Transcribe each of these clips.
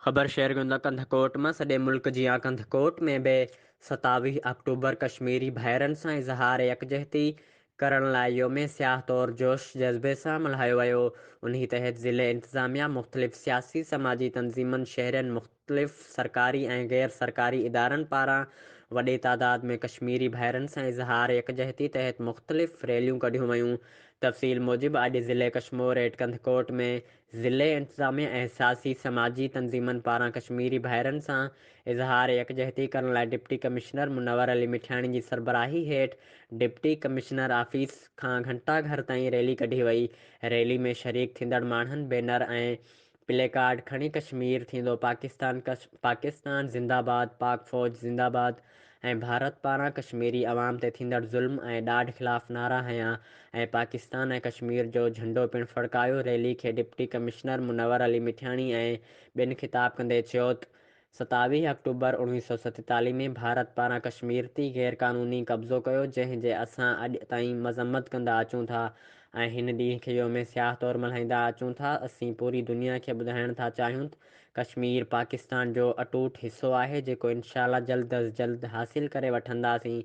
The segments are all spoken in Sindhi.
خبر شيئر ڪيون ته ڪنڌڪوٽ مان سڄي ملڪ جيان ڪنڌڪوٽ ۾ به ستاويهه آڪٽوبر ڪشميري ڀائرن سان اظهار يڪجهتي ڪرڻ لاء يوم سياهه طور جوش جذبي سان ملهايو ويو انهي تحت ضلعي انتظاميا مختلف سياسي سماجي تنظيمن شهرين مختلف سرڪاري ۽ غير سرڪاري ادارن پاران وڏي تعداد ۾ ڪشميري ڀائرن سان اظهار يڪجهتي تحت مختلف ريليون ڪڍيون ويون تفصيل موجب اڄ ضلعي ڪشمور ايٽ ڪنڌڪوٽ ۾ ضلعي انتظاميه ۽ سياسي سماجي تنظيمن پاران ڪشميري ڀائرن سان اظهار يڪجهتي ڪرڻ لاء ڊپٽي ڪمشنر منور علي مٺياڻي جي سربراهي هيٺ ڊپٽي ڪمشنر آفيس کان گهنٽا گهر تائين ريلي ڪڍي وئي ريلي ۾ شريڪ ٿيندڙ ماڻهن بينر ۽ پلي ڪارڊ کڻي ڪشمير ٿيندو پاڪستان ڪش پاڪستان زنده باد پاڪ فوج زنده باد ۽ ڀارت پاران ڪشميري عوام تي ٿيندڙ ظلم ۽ ڏاڍ خلاف نعرا هنيا ۽ پاڪستان ۽ ڪشمير جو جهنڊو پڻ ڦڙڪايو ريلي کي ڊپٽي ڪمشنر منور علي مٺياڻي ۽ ٻين خطاب ڪندي چيوت ستاويهه آڪٽوبر اوڻويهه سؤ ستيتاليهه ۾ ڀارت پاران ڪشمير تي غير قانوني قبضو ڪيو جنهن جي اسان اڄ تائين مذمت ڪندا اچون ٿا ۽ هن ڏينهن کي يوم سياهه طور ملهائيندا اچون ٿا اسين پوري دنيا کي ٻڌائڻ ٿا چاهيون ته ڪشمير پاڪستان جو اٽوٽ حصو آهي جيڪو انشاء الله جلد از جلد حاصل ڪري وٺنداسين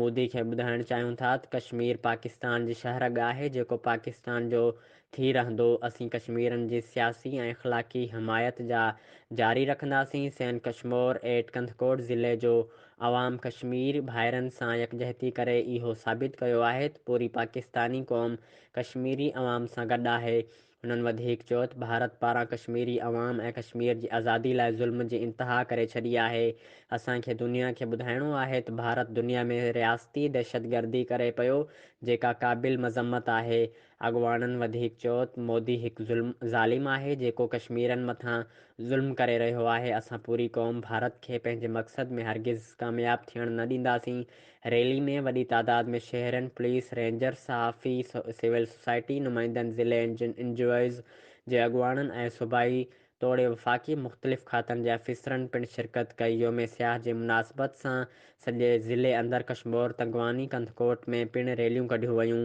مودي کي ٻڌائڻ چاهيون ٿا ته ڪشمير پاڪستان جي شهرڳ آهي جيڪو پاڪستان جو ٿي رهندو، اسين ڪشميرين جي سياسي ۽ اخلاقي حمايت جا جاري رکنداسين، سين ڪشمور ايٽ ڪنڌڪوٽ ضلعي جو عوام ڪشمير ڀائرن سان يڪجهتي ڪري اهو ثابت ڪيو آهي ته پوري پاڪستاني قوم ڪشميري عوام سان گڏ آهي، هنن وڌيڪ چيو ته ڀارت پاران ڪشميري عوام ۽ ڪشمير جي آزادي لاء ظلم جي انتها ڪري ڇڏي آهي، اسان کي دنيا کي ٻڌائڻو آهي ته ڀارت دنيا ۾ رياستي دهشتگردي ڪري پيو جيڪا قابل مذمت آهي، اڳواڻن وڌيڪ چيو ته مودي هڪ ظالم آهي جيڪو ڪشميرين مٿان ظلم ڪري رهيو آهي، اسان پوري قوم ڀارت کي پنهنجي مقصد ۾ هرگز ڪامياب ٿيڻ نه ڏينداسين، ريلي ۾ وڏي تعداد ۾ شهرين، پوليس، رينجرز، صحافي، سول سوسائٽي نمائندن، ضلعي اين جي اوز جي اڳواڻن ۽ صوبائي توڙي وفاقي مختلف کاتن جي آفيسرن پڻ شرڪت ڪئي، يوم سياح جي مناسبت سان سڄي ضلعي اندر ڪشمور، تنگواني، ڪنڌڪوٽ ۾ پڻ ريليون ڪڍيون ويون.